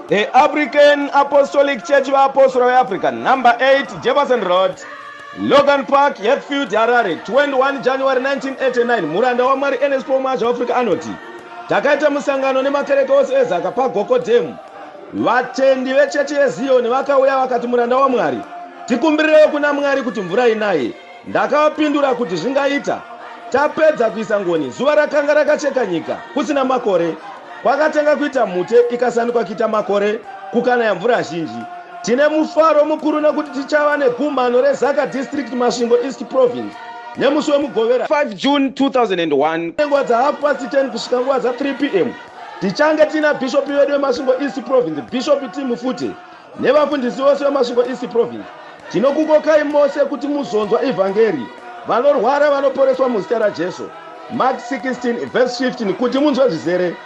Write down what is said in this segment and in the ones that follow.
The African Apostolic Church Apostle African, number 8, Jefferson Road, Logan Park, Hatfield, Harare, 21 January 1989. Muranda waMwari Ernest Paul Mwazha Africa anoti, takaita musangano nemakereke ose ezaka paGoko Dam Vatendi vechechi yeZiyoni vakauya vakati, Muranda waMwari, tikumbirirewo kuna Mwari kuti mvura inaye. Ndakavapindura kuti zvingaita. Tapedza kuisa ngoni, zuva rakanga rakacheka nyika, kusina makore. Kwakatanga kuita mhute, ikasanduka kuita makore, kukanaya mvura zhinji. Tine mufaro mukuru nekuti tichava negumhano reZaka District Masvingo East Province nemusi wemugovera 5 June 2001 nenguva dzahalf past 10 kusvika nguva dza 3 pm Tichange tiina bhishopi vedu veMasvingo East Province, Bhishopi Tim Fute, nevafundisi vose veMasvingo East Province. Tinokukokai mose kuti muzonzwa ivhangeri. Vanorwara vanoporeswa muzita raJesu. Mark 16 verse 15 kuti munzwe zvizere.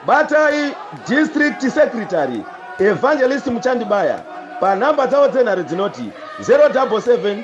Batai district secretary Evangelist Muchandibaya panhamba dzavo dzenhare dzinoti 077